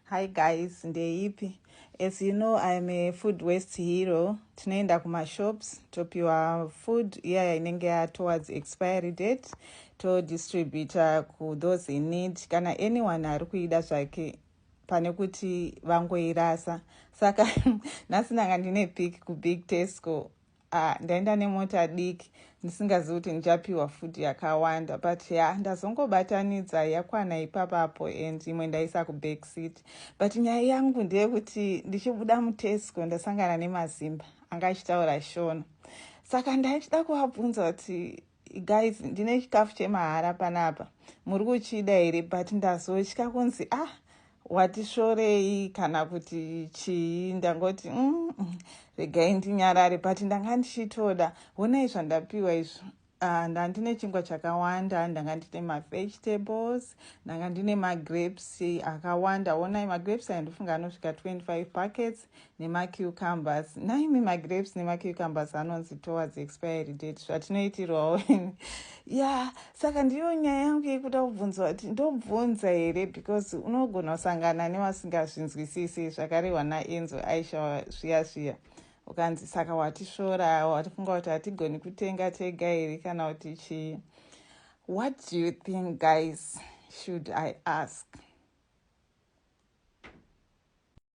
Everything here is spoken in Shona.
Hi guys, ndeipi? As you know, I am a food waste hero. Tinoenda kumashops, topiwa food iyaya inenge ya towards expiry date, to distributor ku those in need. Kana anyone ari kuida zvake, pane kuti vangoirasa. Saka, nhasi ndanga ndine pick ku Big Tesco, Ah, ndaenda nemota diki ndisingazivi kuti ndichapiwa food yakawanda but ya yeah, ndazongobatanidza yakwana ipapapo and imwe ndaisa kuback seat but nyaya yangu ndeyekuti ndichibuda mutesco ndasangana nemazimba anga achitaura shona saka ndaida kuvabvunza kuti guys ndine chikafu chemahara panapa muri kuchida here but ndazotya kunzi ah watisvorei kana kuti chii ndangoti mm, mm, regai ndinyarare but ndanga ndichitoda honai zvandapiwa izvo ah, nda ndine chingwa chakawanda ndanga ndine mavegetables ndanga ndine magrapes akawanda honai magrapes ayo ndofunga anosvika 25 packets nemacucumbers nhaimi magrapes nemacucumbers anonzi towards expiry date zvatinoitirwawo ya saka ndiyo nyaya yangu yekuda kubvunza kuti ndobvunza here because unogona kusangana nevasingazvinzwisisi zvakarehwa naenzo aisha zviya zviya ukanzi saka watisvora watifunga kuti hatigoni kutenga tega here kana kuti chii what do you think guys should i ask